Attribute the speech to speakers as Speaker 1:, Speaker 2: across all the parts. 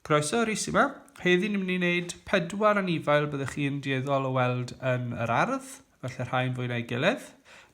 Speaker 1: Croeso Rhys yma. Heddi ni'n mynd i wneud pedwar anifail byddwch chi'n dieddol o weld yn yr ardd, felly rhai'n fwy na'i gilydd.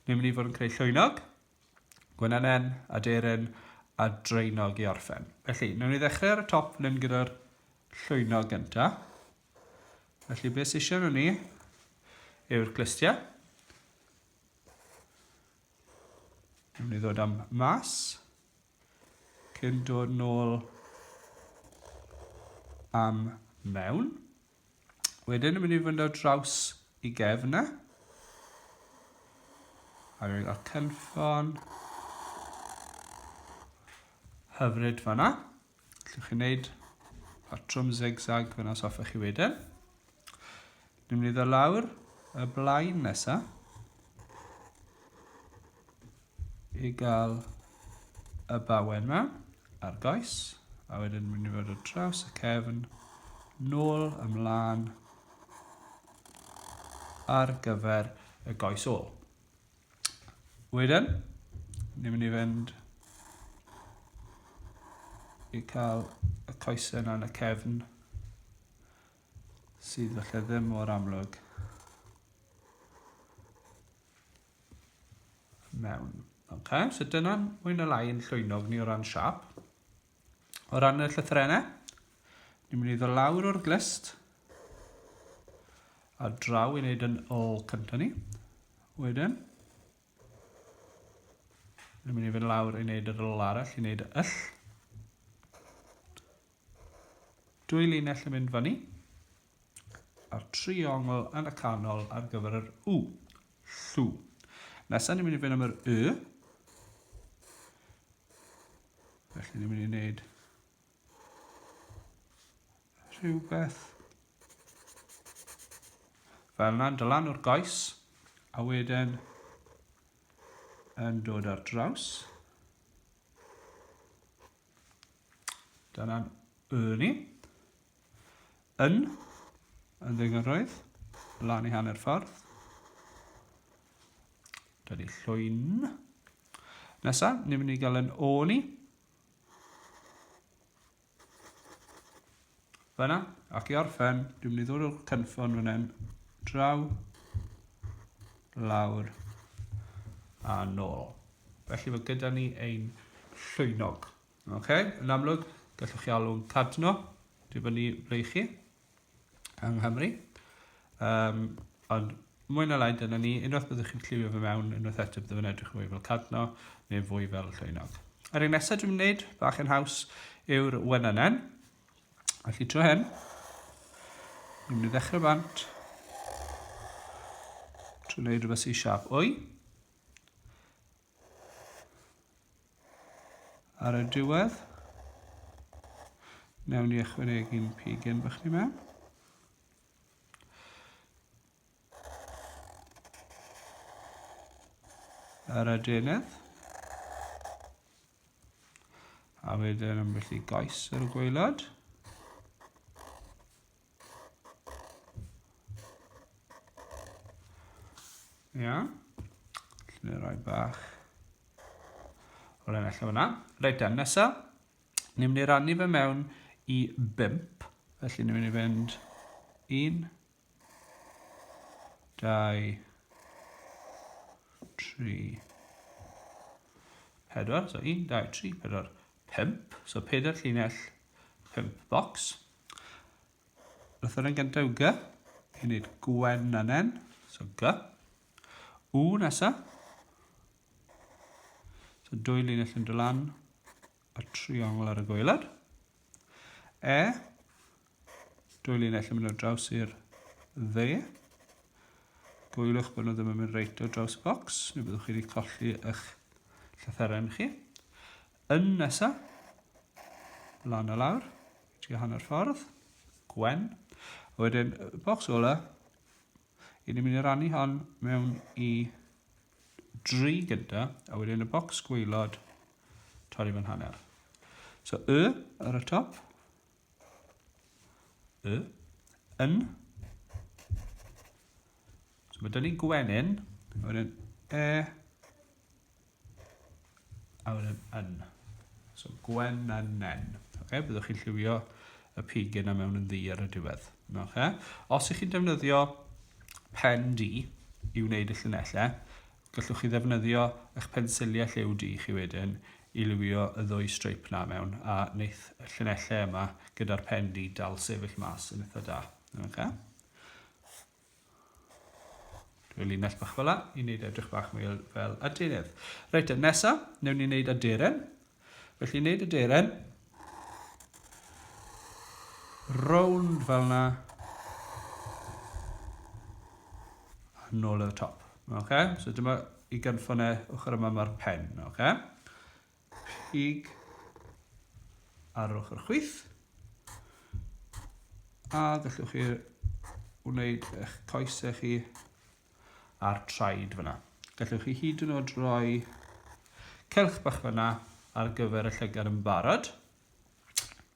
Speaker 1: Ni'n mynd i fod yn creu llwynog, gwenynen, aderyn a dreunog i orffen. Felly, ni'n mynd i ddechrau ar y top fan hyn gyda'r llwynog gynta. Felly, beth sy'n eisiau nhw ni yw'r glystiau. Dwi'n mynd i ddod am mas. Cyn dod nôl am mewn. Wedyn yn mynd i fynd o draws i gefn e. A rwy'n cael cynffon hyfryd fanna. Allwch chi wneud patrwm zigzag fyna os hoffech chi wedyn. Dwi'n mynd i ddod lawr y blaen nesa i gael y bawen yma ar goes a wedyn dwi'n mynd i fod o draws y cefn nôl ymlaen ar gyfer y goes ôl. Wedyn, ni'n mynd i fynd i cael y coesau yna yn y cefn sydd felly ddim mor amlwg mewn. Ok, so dyna mwy na lai yn llwynog ni o ran siap. O ran y llythyrennau, ni'n mynd i ddod lawr o'r glist a draw i wneud yn ôl cyntaf ni. Wedyn, ni'n mynd i fynd lawr i wneud yr ôl arall, i wneud y yll. Dwy linell yn mynd fan ni. a'r triongl yn y canol ar gyfer yr U. Llw. Nesaf ni'n mynd i fynd am yr Y. Felly ni'n mynd i wneud rhywbeth fel yna'n dylan o'r goes a wedyn yn dod ar draws. Dyna'n Y ni. yn yn ddengyrroedd, lan i hanner ffordd. Da ni llwyn. Nesa, ni'n mynd i gael yn o ni. Fyna, ac i orffen, dwi'n mynd i ddod o'r cynffon fan hyn, draw, lawr, a nôl. Felly mae gyda ni ein llwynog. Ok, yn amlwg, gallwch chi alw'n cadno, dwi'n fyny ble chi, yng Nghymru. Um, ond mwy na lai dyna ni, unwaith byddwch chi'n lliwio fe mewn, unwaith eto byddwch yn edrych fwy fel cadno neu fwy fel llwynog. Yr un nesaf dwi'n gwneud, bach yn haws, yw'r wenynen. A chi tro hyn, dwi'n mynd i ddechrau bant trwy wneud rhywbeth sy'n siap o'i. Ar y diwedd, newn ni ychwanegu'n pigyn bych ni mewn. Ar y denydd. A wedyn ambell i goes ar y gwaelod. Ia. Lle roi bach. O'r ennill allan fyna. Reit dan, nesa. Ni'n mynd i rannu fe mewn i bimp. Felly ni'n mynd i fynd un, dau, tri, pedwar. So un, dau, tri, pedwar, pimp. So pedwar llinell, pimp bocs. Lythyr yn gyntaf yw gy. I wneud gwenynen. So gy. U nesa. So dwy linell yn dylan y triongl ar y gweilad. E. Dwy linell yn mynd o draws i'r dde. Gwyliwch bod nhw ddim yn mynd reit o draws y bocs, neu byddwch chi wedi colli eich llythyren chi. yn nesa, lan o lawr, trio hanner ffordd, gwen. A wedyn, bocs ola, i ni'n mynd i rannu hon mewn i dri gyda, a wedyn y bocs gweilod, torri fan hanner. So, y ar y top, y, yn. So mae dyn ni gwenyn, wedyn e, A wedyn yn. So gwen a nen. Okay, byddwch chi'n lliwio y pig yna mewn yn ddi ar y diwedd. Okay. Os ych chi'n defnyddio pen di i wneud y llunellau, gallwch chi ddefnyddio eich pensiliau lliw di chi wedyn i liwio y ddwy streip na mewn a wneith y llunellau yma gyda'r pen di dal sefyll mas yn eitha da. Okay. Dwi'n linell bach fel la, i wneud edrych bach mwy fel adeirydd. Reit, yn nesa, newn ni wneud aderen. Felly, wneud aderen. Rownd fel na. A nôl y top. Okay? So dyma i gynffon e, ochr yma mae'r pen. Okay? pig ar ochr chwith a gallwch chi wneud eich coesau chi a'r traed fyna. Gallwch chi hyd yn oed roi celch bach fyna ar gyfer y llygad yn barod.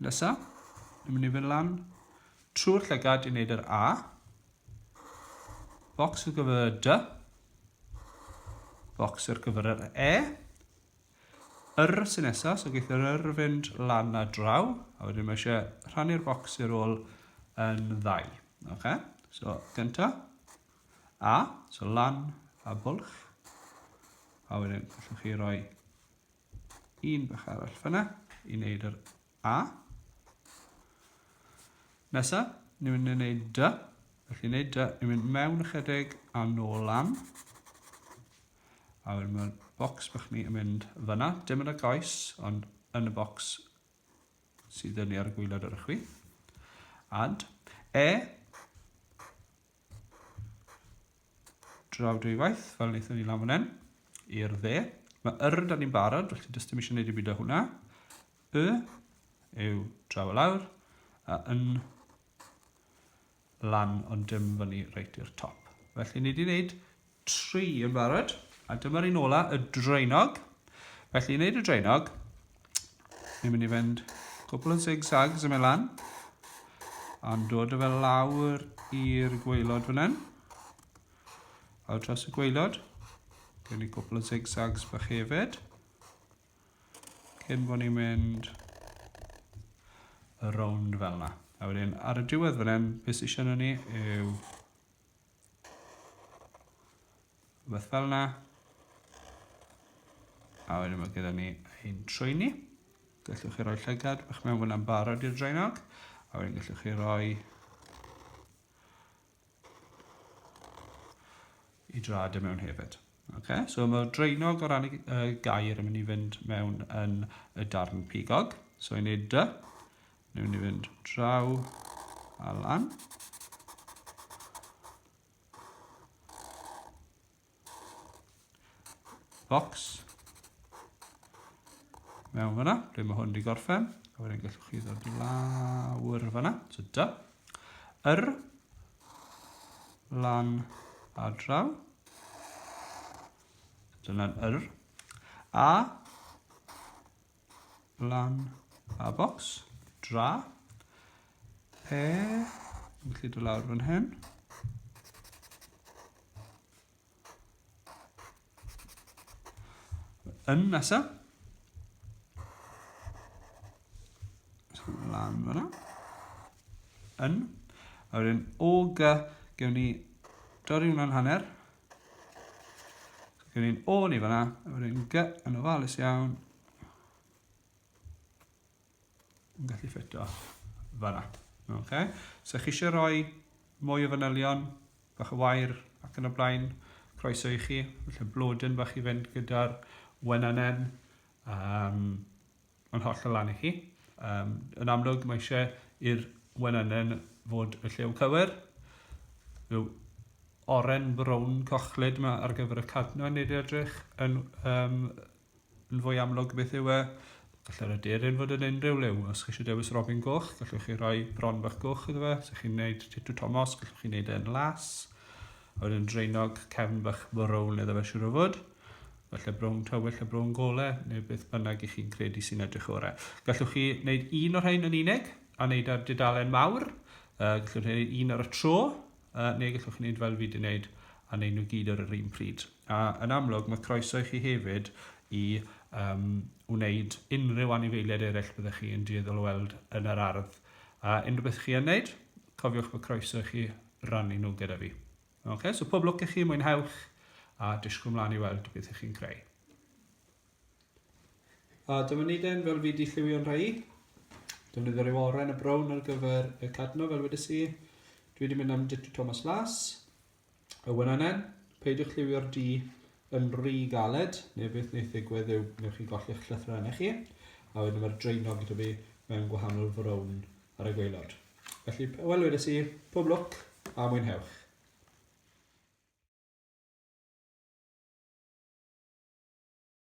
Speaker 1: Nesa, ni'n mynd i fynd lan trwy'r llygad i wneud yr A. Bocs ar gyfer y D. Bocs ar gyfer yr E. Yr sy nesa, so geith yr yr fynd lan a draw, a wedyn mae eisiau rhannu'r bocs i'r ôl yn ddau. Oce, so gynta, a, so lan a bwlch, a wedyn allwch chi roi un bach arall fyna i wneud yr A. Nesa, ni'n mynd i wneud dy. Felly wneud dy, ni'n mynd mewn ychydig a nôl lan. A wedyn mae'r bocs bych ni yn mynd fyna, dim yn y goes, ond yn y bocs sydd yn ni ar y gwylod ar y chwi. Add. E. draw dwywaith, fel wnaethon ni lan fan hyn, i'r dde. Mae yr da ni'n barod, felly dys dim eisiau gwneud i byd o hwnna. Y yw draw y lawr, a yn lan ond dim fyny reit i'r top. Felly ni wedi gwneud Tri yn barod. A dyma'r un ola, y draenog. Felly, i wneud y draenog, ni'n mynd i fynd cwpl o zigzags yn mynd lan, a'n dod o fel lawr i'r gweilod fan hyn, a dros y gweilod, gen i cwpl o zigzags bach hefyd, cyn bod ni'n mynd y rownd fel yna. A wedyn, ar y diwedd fan hyn, beth sy'n siarad ni yw Rhywbeth fel yna. A wedyn mae gyda ni ein trwyni. Gallwch chi roi llygad bach mewn fyna'n barod i'r draenog. A wedyn gallwch chi roi i drad y mewn hefyd. Okay, so mae draenog o ran y uh, gair yn mynd i fynd mewn yn y darn pigog. So i wneud dy, Newn ni fynd draw a lan. Box. Mewn fyna, ble mae hwn wedi gorffen. A wedyn gallwch chi ddod i lawr fyna. So da. Yr. Lan a draw. Dyna'n yr. A. lan a bocs, dra, pe, yn gallu dod lawr fan hyn. Yn nesaf. Lan fyna. Yn. A wedyn o gy, gewn ni dorri hwnna'n hanner, Gyda ni'n ôl i fanna, efo ni'n gy yn ofalus iawn. Yn gallu ffito fanna. Okay. So chi eisiau rhoi mwy o fanylion, bach o wair ac yn y blaen, croeso i chi. Felly blodyn bach i fynd gyda'r wenanau. Um, yn hollol lan i chi. Um, yn amlwg, mae eisiau i'r wenynen fod y llew cywir. Rhyw oren brown cochlyd yma ar gyfer y cadno yn ei edrych yn, um, yn fwy amlwg beth yw e. Gallai'r aderyn fod yn unrhyw lew. Os chi eisiau dewis robin goch, gallwch chi roi bron bach goch iddo fe. Os ydych chi'n gwneud titw Tomos, gallwch chi wneud e'n las. A wedyn dreinog cefn bach brown iddo fe siwr o fod. falle brown tywyll a brown gole, neu beth bynnag i chi'n credu sy'n edrych orau. Gallwch chi wneud un o'r rhain yn unig, a wneud ar dudalen mawr, uh, gallwch chi wneud un ar y tro, uh, neu gallwch chi wneud fel fi wedi wneud, a wneud nhw gyd ar yr un pryd. A yn amlwg, mae croeso i chi hefyd i um, wneud unrhyw anifeiliaid eraill byddwch chi yn dueddol o weld yn yr ardd. A unrhyw beth chi yn wneud, cofiwch bod croeso i chi rannu nhw gyda fi. Ok, so pob lwc i chi, mwynhewch, a disgwyl mlaen i weld beth ych chi'n creu. A dyma ni den, fel fi di lliwio'n rhai. Defnyddio rhyw oren a brown ar gyfer y cadno, fel wedi si. Dwi wedi mynd am Ditto Thomas Las. Y wynanen, peidiwch lliwio'r di yn rhy galed, neu beth wneud ddigwydd yw newch chi golli'ch llythrenau chi, a wedyn mae'r draenog gyda fi mewn gwahanol frown ar y gweilod. Felly, wel wedes i, pob lwc a mwynhewch.